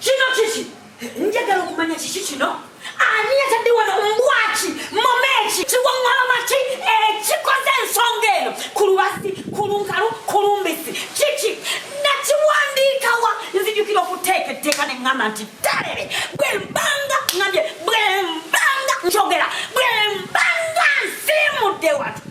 Kino kiki? Njagala okumanya kiki kino? Ani yatadde wano mbwaki momeki kiwaŋŋalama ki ekikoze eh, ensonga eno ku lubasi ku lunkalu ku lumbisi kiki nakiwandiikawa nzijukira okuteeka etteeka ne ŋŋamba nti talebe bwe mbanga ŋambye bwe mbanga njogera bwe mbanga nsiimudde watu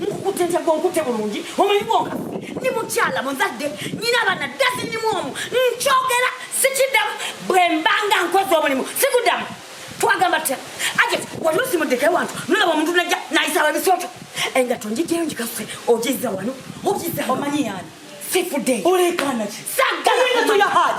nkukutte ntya gonkutte bulungi omanyi bwonkaffe ndi mukyala muzadde nyina abana dazinimu omu nkyogera sikiddamu bwe mbanga nkoze omulimu sikuddamu twagamba tutya ate wali osimuddeko ewantu nolaba omuntu najja nayisaba ebisooto engato njijjayo njikafe ogizza wano ogizza omanyi yani sifudde olekanaki sagalaa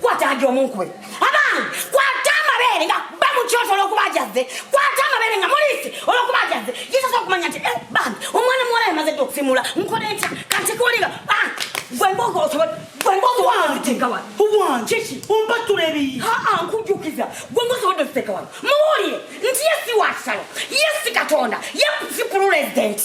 kwata agi omunkube abaana kwata amabeere nga ba mu kyoto olwokuba ajazze kwata amabeere nga mulisi olwokuba ajazze yesosa okumanya nti eh, bambi omwana muwala yamaze dde okusimula nkole ntya kanti kuwulira ah, gwembogo osobola gwembogo wanteka wano owange ki ompatula ebiyi aa nkujjukiza gwembogo osobodde okuteka wano muwulire nti yesi wakisalo yesi katonda yesi pululezidenti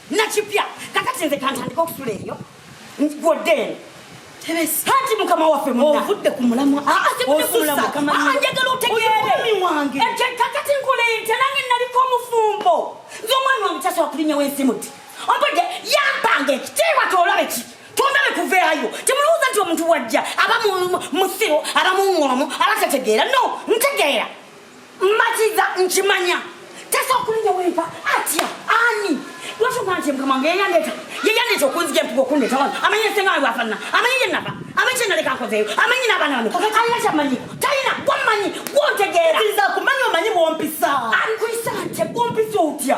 nakipya kakati nze kantandika okusula eyo gwodde eno hati mukama waffe ovudde ku mulamwa ah, ah, njagala otegeerewange kakati nkole ntya nange naliko omufumbo nze omwana wange kyasobola kulinyawo ensi muti ompodde yampanga ekitiibwa tolabe ki tondale kuveeyo temulowooza nti omuntu wajja aba musiru aba muŋoomu aba tategeera no ntegeera matiza nkimanya tesa okulinda wempa atya ani lwaki omwana nti mukama wange yeyandeeta yeyandeeta okunzija empuga okundeeta wano amanyi esenga wange bwafanana amanyi gyenava amanyi kyenaleka nkozeeyo amanyi n'abaana bano alina kyamanyi talina gwamanyi gwontegeera kumanya omanyi bwompisa ankuyisa nte gwompisa otya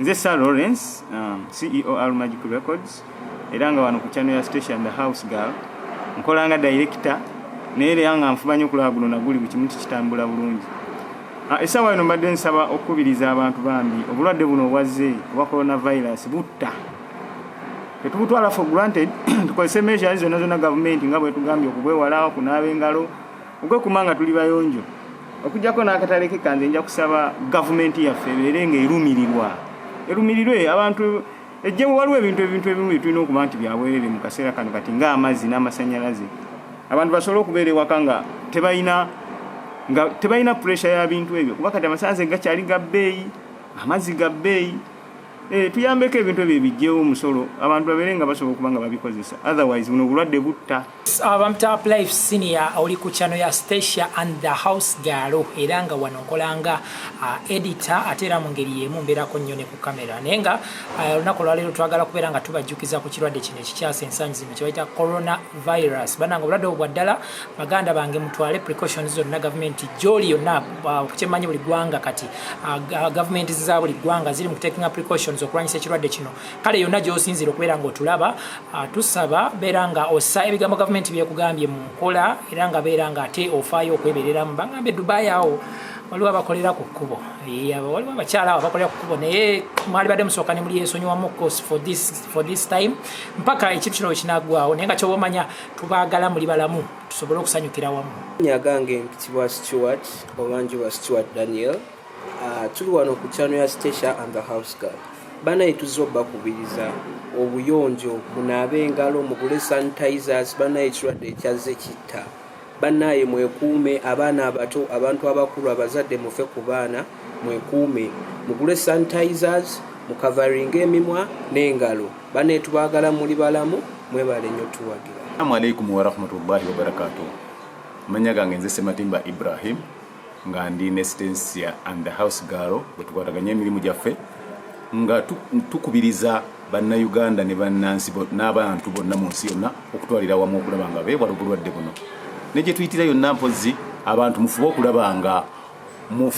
nze sir lawrence um, ceo al magic records era nga wano ku channel ya station the house girl nkola nga director naye era nga nfuba nyo okulaba guno naguli buli kimu kikitambula bulungi ah, esawa eno mbadde nsaba okukubiriza abantu bambi obulwadde buno obwazze obwa coronavirus butta tetubutwala for granted tukozese measures zonna zonna gavumenti nga bwetugambye okubwewala okunaaba engalo okwekuma nga tuli bayonjo okujjako n'akatale ke kange nja kusaba gavumenti yaffe ebeere nga erumirirwa erumirirwe abantu ejje waliwo ebintu ebintu ebimu byetulina okuba nti byabwerere mu kaseera kano kati ng'amazzi n'amasanyalaze abantu basobole okubeera ewaka nga tebalina nga tebalina puresha ya bintu ebyo kuba kati amasanyalaze gakyali ga bbeeyi amazzi ga bbeeyi Eh, tuyambeko ebintu ebyo ebijjewo omusolo abantu babeere nga basobola okuba nga babikozesa otherwise buno obulwadde butta abamtap uh, life senior oli ku kyano ya stacia and the house galo era nga wano nkolanga uh, edita ate era mu ngeri yemu mbeerako nnyo ne ku kamera naye nga uh, olunaku olwaleero twagala kubeera nga tubajjukiza ku kirwadde kino ekikyasa ensangi zino kyebayita coronavirus bananga obulwadde obwo bwa ddala baganda bange mutwale precautions zonna gavumenti gyoli yonna uh, okukyemanyi buli gwanga kati uh, uh, gavumenti za buli gwanga ziri mukutekinga precautions okulwanyisa ekirwadde kino kale yonna gyosinzira okubeera nga otulaba tusaba beera nga ossa ebigambo gavumenti byekugambye mu nkola era nga beera nga ate ofaayo okwebereramu bagambe dubai awo waliwo abakolera ku kkubo waliwo abakyala abo abakolera ku kkubo naye mwali badde musooka ne muli ensonyiwamu course for this, for this time mpaka ekintu kino wekinagwawo naye nga kyoba omanya tubaagala muli balamu tusobole okusanyukira wamu nyagange mpitibwa stewart obanjibwa stewart daniel uh, tuli wano ku kyano ya stacia and the house girl banaye tuzze obakubiriza obuyonjo munaabe engalo mugule sanitizers banaye ekirwadde ekyazze kitta banaye mwekuume abaana abato abantu abakulu abazadde mufe ku baana mwekuume mugule sanitizers mukavaringa emimwa n'engalo Banetubagala muli balamu mwebale nyo tuwagira. Assalamu alaikum warahmatullahi wabarakatuh. Manya gange nze Sematimba Ibrahim nga ndi ne Stencia and the house girl bwetukwataganya emirimu gyaffe nga tukubiriza bannayuganda ne bannansi n'abantu bonna mu nsi yonna okutwalira wamu okulaba nga beewala obulwadde buno ne gye tuyitira yonna mpozzi abantu mufube okulaba nga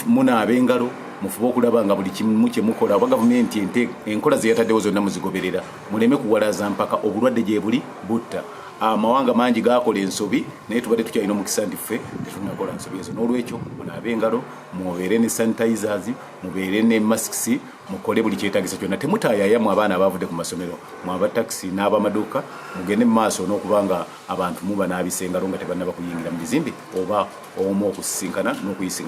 munaabe engalo mufube okulaba nga buli kimu kyemukola oba gavumenti ente enkola zeyataddewo zonna muzigoberera muleme kuwalaza mpaka obulwadde gyebuli butta amawanga mangi gakola ensobi naye tubadde tukyalina omukisa nti ffe tetunakola nsobi ezo n'olwekyo munaabe engalo mubeere ne sanitizers mubeere ne masks mukole buli kyetagisa kyonna temutayayamu abaana abavudde ku masomero mwaba taxi n'abamaduuka mugende mu maaso n'okuba nga abantu muba n'abisa engalo nga tebannaba kuyingira mu bizimbe oba omu okusisinkana n'okuyisina